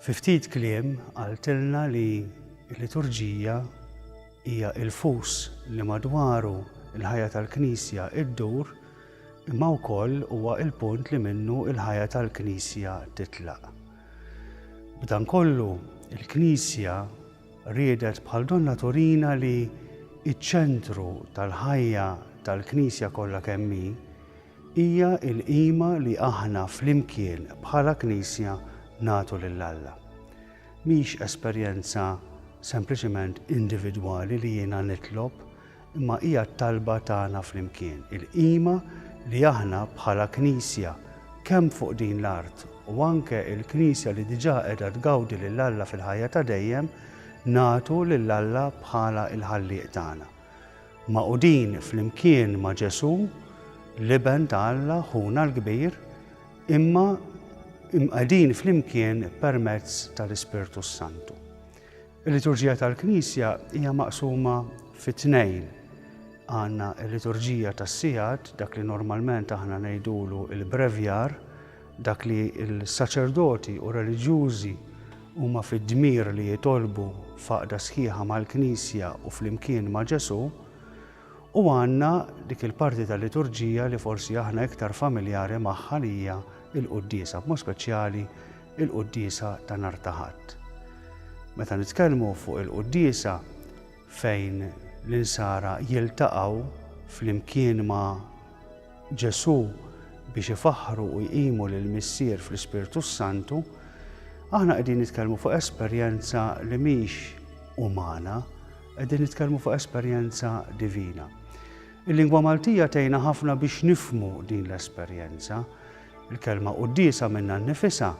Fi ftit kliem qaltilna li l-liturġija hija il-fus li madwaru l-ħajja tal-Knisja ddur imma wkoll huwa l-punt li minnu l-ħajja tal-Knisja titlaq. B'dan kollu, il-Knisja riedet bħal donnha turina li ċ-ċentru tal-ħajja tal-Knisja kollha kemm hi, Hija l-qima li aħna flimkien bħala Knisja nagħtu lil Alla. Mhix esperjenza sempliċement individwali li jiena nitlob, imma hija t-talba tagħna flimkien. Il-qima li aħna bħala Knisja, kemm fuq din l-art u anke l-Knisja li diġà qiegħda tgawdi lil Alla fil-ħajja ta' dejjem, nagħtu lil Alla bħala l-Ħallieq tagħna. Magħqudin flimkien ma' Ġesù, l-Iben ta' Alla, Ħuna l-Kbir, imma imqegħdin flimkien permezz tal-Ispirtu s-Santu. Il-liturġija tal-Knisja hija maqsuma fi tnejn. Għandna l-liturġija tas-sigħat, dak li normalment aħna ngħidulu il-brevjar, Dak li l-saċerdoti u r-reliġjużi huma fid-dmir li jitolbu f'għaqda sħiħa mal-Knisja u flimkien ma' Ġesù, u għandna dik il-parti tal-liturġija li forsi aħna iktar familjari magħha li hija l-quddiesa, b'mod speċjali l-quddiesa ta' nhar ta' Ħadd. Meta nitkellmu fuq il-quddiesa, fejn l-insara jiltaqgħu flimkien ma' Ġesù biex ifaħħru u jqimu lill-Missier fl-Ispirtu s-Santu, aħna qegħdin nitkellmu fuq esperjenza li mhix umana, qegħdin nitkellmu fuq esperjenza divina. Il-lingwa Maltija tgħinna ħafna biex nifmu din l-esperjenza. Il-kelma qudiesa minnha nnifisha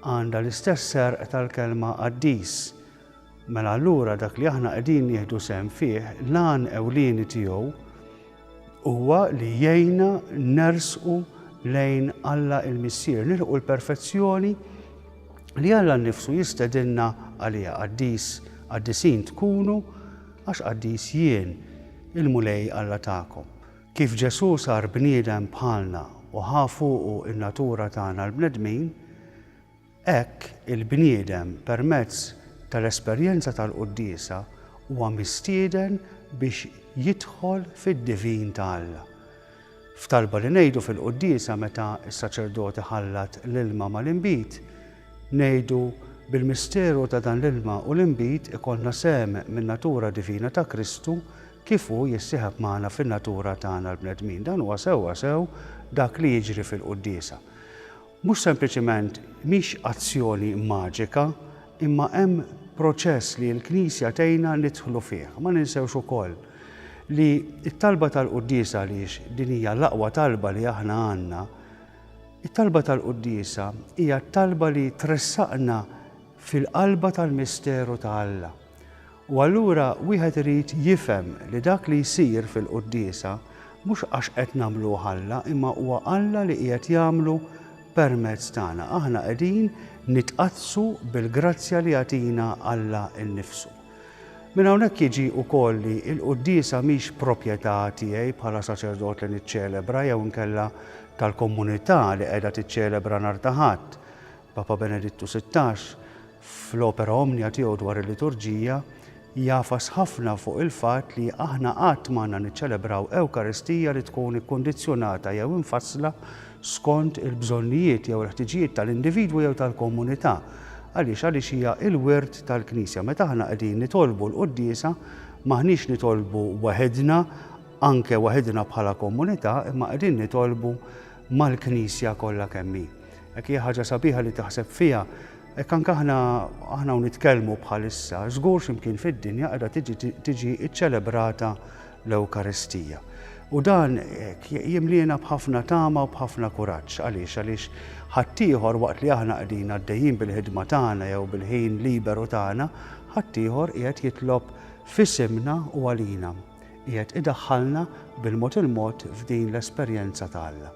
għandha l-istess serq tal-kelma qaddis Mela allura dak li aħna qegħdin nieħdu sehem fih, l-għan ewlieni tiegħu huwa li jgħinna nersqu lejn Alla il-Missier, nilħqu l-perfezzjoni li Alla nnifsu jistedinna għaliha qaddis, qaddisin tkunu għax qaddis jien, il-Mulej Alla tagħkom. Kif Ġesù sar bniedem bħalna u ħa fuqu n-natura tagħna l-bnedmin, Hekk, il-bniedem, permezz tal-esperjenza tal-quddiesa, huwa mistieden biex jidħol fid-divin ta' Alla. F'talba li ngħidu fil-quddiesa meta s-saċerdot iħallat l-ilma mal-inbid, ngħidu, Bil-misteru ta' dan l-ilma u l-inbid ikollna sehem min-natura divina ta' Kristu kif hu jissieħeb magħna fin-natura tagħna l-bnedmin. Dan huwa sewwasew dak li jiġri fil-quddiesa. Mhux sempliċement mhix azzjoni maġika, imma hemm proċess li l-Knisja tgħinna nidħlu fih. Ma ninsewx ukoll li t-talba tal-quddiesa għaliex din hija l-aqwa talba li aħna għandna, it-talba tal-quddiesa hija t-talba li tressaqna fil-qalba tal-misteru ta' Alla. U allura wieħed irid jifhem li dak li jsir fil-quddiesa mhux għax qed nagħmluh Alla imma huwa Alla li qiegħed jagħmlu permezz tagħna. Aħna qegħdin nitqaddsu bil-grazzja li jagħtina Alla nnifsu. Minn hawnhekk jiġi wkoll li l-quddiesa mhix proprjetà tiegħi bħala saċerdot li niċċelebra jew inkella tal-komunità li qiegħda tiċċelebra nhar ta' Ħadd. Papa Benedittu Sittax, fl-Opera Omnia tiegħu dwar il-Liturġija, jagħfas ħafna fuq il-fatt li aħna qatt m'għandna niċċelebraw Ewkaristija li tkun ikkundizzjonata jew imfassla skont il-bżonnijiet jew il-ħtiġijiet tal-individwu jew tal-komunità. Għaliex? Għaliex hija l-wirt tal-Knisja. Meta aħna qegħdin nitolbu l-quddiesa, m'aħniex nitolbu waħidna, anke waħidna bħala komunità, imma qegħdin nitolbu mal-Knisja kollha kemm hi. Hekk hija ħaġa sabiħa li taħseb fiha, hekk anke aħna aħna u nitkellmu bħalissa, żgur x'imkien fid-dinja qiegħda tiġi tiġi ċċelebrata l-Ewkaristija. U dan jimliena b'ħafna tama u b'ħafna kuraġġ għaliex għaliex ħaddieħor waqt li aħna qegħdin għaddejjin bil-ħidma tagħna jew bil-ħin liberu tagħna, ħaddieħor qiegħed jitlob f'isimna u għalina. qiegħed idaħħalna bil-mod il-mod f'din l-esperjenza ta' Alla.